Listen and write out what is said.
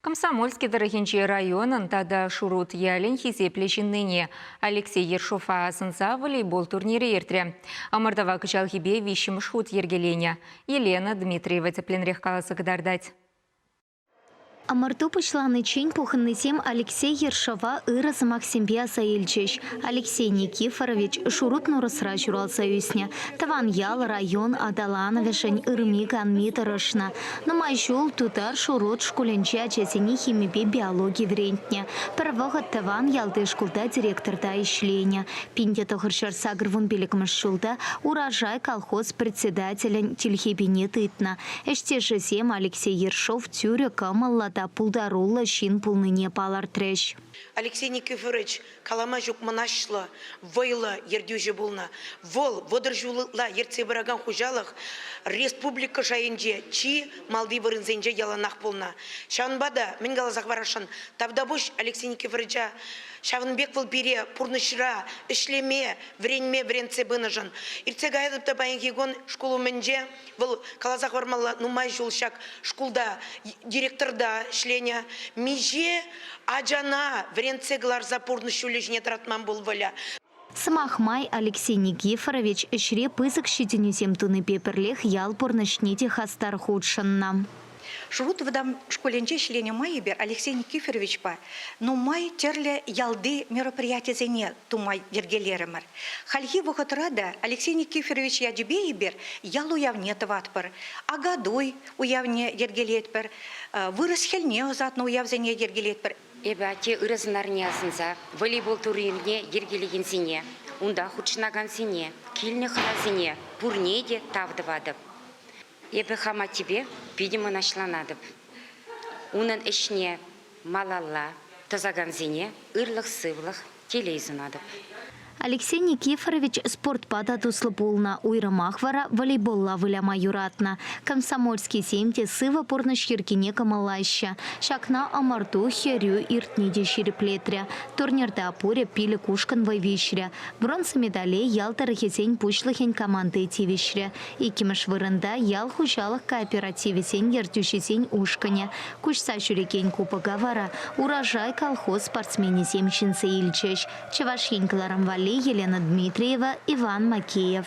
Комсомольски тӑрӑхӗнчи районӑн тата Шурут ялӗн хисеплӗ ҫыннине Алексей Ершова асӑнса волейбол турнирӗ иртрӗ. Ӑмӑртӑва кӑҫалхипе виҫҫӗмӗш хут йӗркеленӗ. Елена Дмитриева тӗплӗнрех каласа кӑтартать. Ӑмӑрту пуҫланиччен пухӑннисем Алексей Ершова ырӑ сӑмахсемпе аса илчӗҫ. Алексей Никифорович Шурут Нурӑсра ҫуралса ӳснӗ, тӑван ял, район аталанӑвӗшӗн ырми-канми тӑрӑшнӑ. Нумай ҫул Тутар Шурут шкулӗнче ачасене химипе биологи вӗрентнӗ. Пӗр вӑхӑт тӑван ялти шкулта директорта ӗҫленӗ. Пинте тӑхӑр ҫӗр сакӑр вун пилӗкмӗш ҫулта Урожай колхоз председателӗн тилхепине тытнӑ. Ӗҫтешӗсем Алексей Ершов тӳрӗ кӑмӑллӑ та пултаруллӑ ҫын пулнине палӑртрӗҫ. Алексей Никифорович калама ҫук мӑнаҫлӑ, вӑйлӑ ертӳҫӗ пулнӑ. Вӑл вӑтӑр ҫулла ертсе пыракан хуҫалӑх республика шайӗнче чи малти вырӑнсенче яланах пулнӑ. Ҫавӑнпа та мӗн каласа хӑварасшӑн, Тавтапуҫ Алексей Никифоровича, ҫавӑн пек вӑл пире пурнӑҫра ӗҫлеме, вӗренме вӗрентсе пынӑшӑн. Иртсе каятӑп та паянхи кун шкул умӗнче. Вӑл каласа хӑвармалла, нумай ҫул ҫак шкулта директорта ӗҫленӗ. Миҫе ачана вӗрентсе кӑларса пурнӑҫ ҫулӗ ҫине тӑратман пул Выля. Сӑмах май, Алексей Никифорович ӗҫре пысӑк ҫитӗнӳсем тунипе пӗрлех ял пурнӑҫне те хастар хутшӑннӑ. Шурут вӑтам шкулӗнче ӗҫленӗ майӗпе Алексей Никифоровичпа нумай тӗрлӗ ялти мероприятисене тума йӗркелерӗмӗр. Хальхи вӑхӑтра та Алексей Никифорович ячӗпе эпир ял уявне тӑватпӑр. Акатуй уявне йӗркелетпӗр, вырӑс хӗлне ӑсатнӑ уявсене йӗркелетпӗр. Эпӗ атте ырӑ сӑнарне асӑнса волейбол турнирне йӗркелекенсене, унта хутшӑнакансене, килнӗ хӑнасене пурне те тав тӑватӑп. Эпӗ хам аттепе питӗ мӑнаҫланатӑп. Унӑн ӗҫне малалла тӑсакансене ырлӑх-сывлӑх, телей сунатӑп. Алексей Никифорович спортпа та туслӑ пулнӑ, уйрӑмах вара волейболла выляма юратнӑ. Комсомольскисем те сывӑ пурнӑҫ йӗркине кӑмӑллаҫҫӗ. Ҫакна ӑмӑрту, хӗрӳ иртни те ҫирӗплетрӗ. Турнирта пурӗ пилӗк ушкӑн вӑй виҫрӗ. Бронза медале ял тӑрӑхӗсен пуҫлӑхӗн команди тивӗҫрӗ. Иккӗмӗш вырӑнта ял хуҫалӑх кооперативӗсен ертӳҫисен ушкӑнӗ. Куҫса ҫӳрекен кубока вара Урожай колхоз спортсменӗсем ҫӗнсе илчӗҫ, Чӑваш Ен кӑларӑм валли Елена Дмитриева, Иван Макеев.